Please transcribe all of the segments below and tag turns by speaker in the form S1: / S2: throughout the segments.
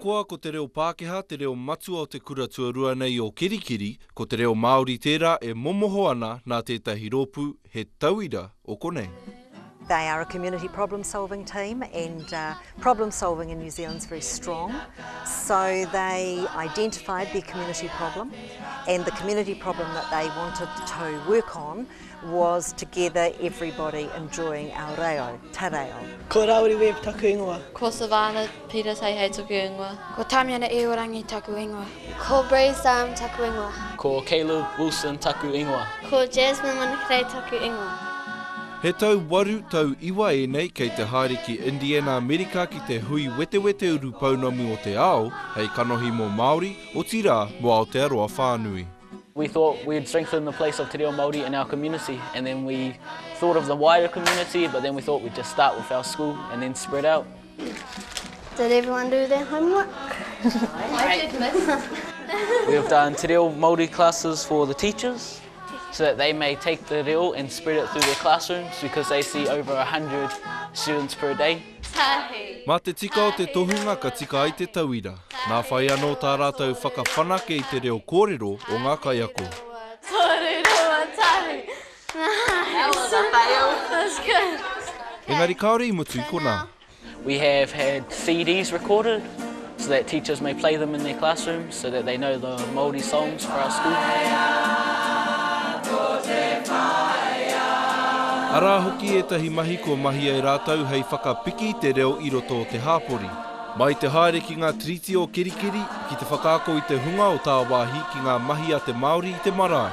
S1: Ahakoa ko te reo Pākehā te reo matua o te kura tuarua nei o Kerikeri, ko te reo Māori tērā e momoho ana nā tētahi rōpū he tauira o konei. They are a community problem solving team and problem solving in New Zealand is very strong so they identified their community problem and the community problem that they wanted to work on was to gather everybody enjoying our reo, ta reo. Ko Rauri Webb taku ingoa. Ko Savannah Peter Seihei tuku ingoa. Ko Tamiana Iorangi taku ingoa. Ko Bree Zahm taku ingoa. Ko Caleb Wilson taku ingoa. Ko Jasmine Manakirei taku ingoa. He tau waru, tau iwa ēnei kei te haere ki Indiana Amerika ki te hui wetewete urupounamu o te ao hei kanohi mō Māori, otirā, mō Aotearoa whānui. We thought we'd strengthen the place of te reo Māori in our community and then we thought of the wider community but then we thought we'd just start with our school and then spread out. Did everyone do their homework? I did, miss. We have done Te Reo Māori classes for the teachers so that they may take the reo and spread it through their classrooms because they see over 100 students per day. Mā te tika o te tohunga ka tika ai te tauira. Nā whai anō tā rātou whakawhanake i te reo kōrero o ngā kaiako. Engari kāore i mutu i konā. We have had CDs recorded so that teachers may play them in their classrooms so that they know the Māori songs for our school. Arā hoki ētahi mahi kua mahi ai rātou hei whakapiki i te reo i roto o te hāpori. Mai te haere ki ngā tiriti o Kerikeri ki te whakaako i te hunga o tāwāhi ki ngā mahi a te Māori i te marae.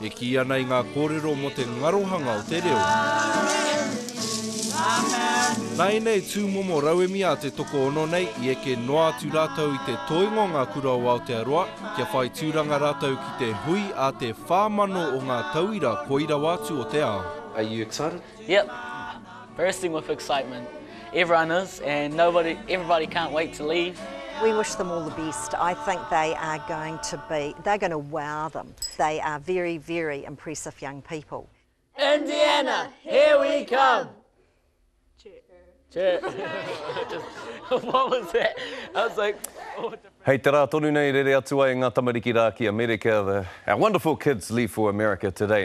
S1: E kī ana i ngā kōrero mō te ngarohanga o te reo. Nā ēnei tūmomo rauemi a te tokoono nei i eke noa atu rātou i te toenga o ngā kura o Aotearoa kia whai tūranga rātou ki te hui a te 4,000 o ngā tauira koi rawa atu o te ao. Are you excited? Yep, bursting with excitement. Everyone is and nobody, everybody can't wait to leave. We wish them all the best. I think they are going to be, they're going to wow them. They are very, very impressive young people. Indiana, here we come! Hei te rā tonu nei rere atu ai ngā tamariki rā ki Amerika, our wonderful kids leave for America today.